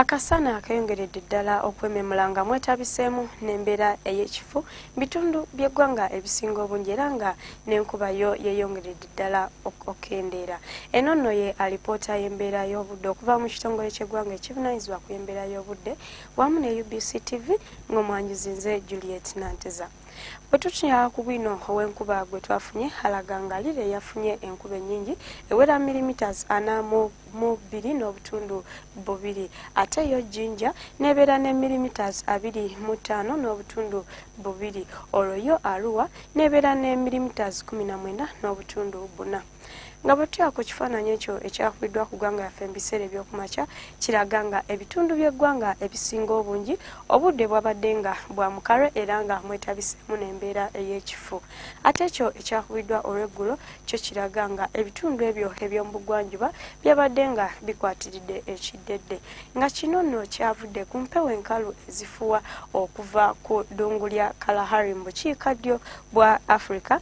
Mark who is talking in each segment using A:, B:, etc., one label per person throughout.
A: Akasana akayongeredde ddala okwememula nga mwetabiseemu n'embeera ey'ekifu mu bitundu by'eggwanga ebisinga obungi era nga n'enkuba yo yeeyongeredde ddala okukendeera. Eno nno ye alipoota y'embeera y'obudde okuva mu kitongole ky'eggwanga ekivunaanyizibwa ku y'embeera y'obudde wamu ne UBC TV ng'omwanjuzi nze Juliet Nanteza. Bwetutunya ku bwino ow'enkuba gwe twafunye alaga nga liri eyafunye enkuba ennyingi ewera milimiters ana mu bbiri n'obutundu bubiri ate yo jinja n'ebeera ne milimiters abiri mu ttaano n'obutundu bubiri olwo yo aluwa n'ebeera ne milimiters kumi na mwenda n'obutundu buna. nga bwetutya ku kifaananyi ekyo ekyakubiddwa ku ggwanga yaffe mu biseera ebyokumakya kiraga nga ebitundu by'eggwanga ebisinga obungi obudde bwabadde nga bwa mukalo era nga mwetabiseemu n'embeera ey'ekifu ate ekyo ekyakubiddwa olw'eggulo kyo kiraga nga ebitundu ebyo eby'omu bugwanjuba byabadde nga bikwatiridde ekiddedde nga kino nno kyavudde ku mpewo enkalu ezifuwa okuva ku ddungu lya kalahari mu bukiika ddyo bwa africa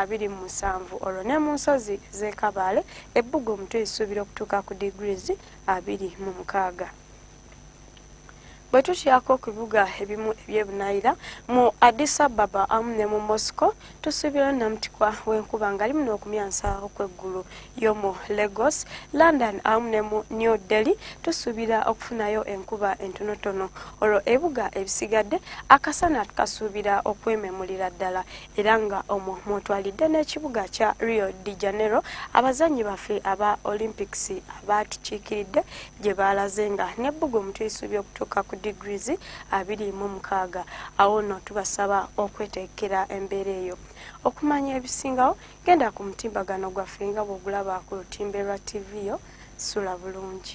A: abiri mu musanvu olwo ne mu nsozi z'e Kabaale ebbugumu tulisuubira okutuuka ku degrees abiri mu mukaaga. Bwe tukyako ku bibuga ebimu eby'ebunaayira mu Addis Ababa amu ne mu Moscow tusuubira nnamutikwa w'enkuba nga limu n'okumyansa okw'eggulu y'omu Lagos, London amu ne mu New Delhi tusuubira okufunayo enkuba entonotono olwo ebibuga ebisigadde akasana tukasuubira okwememulira ddala. era nga omwo mwotwalidde n'ekibuga kya Rio de Janeiro abazannyi baffe aba Olympics abaatukiikiridde gye baalaze nga n'ebbugumu tulisuubya okutuuka ku degrees abiri mu mukaaga awo nno tubasaba okweteekera embeera eyo okumanya ebisingawo genda ku mutimbagano gwaffe nga bw'ogulaba ku lutimbe lwa ttivi yo sula bulungi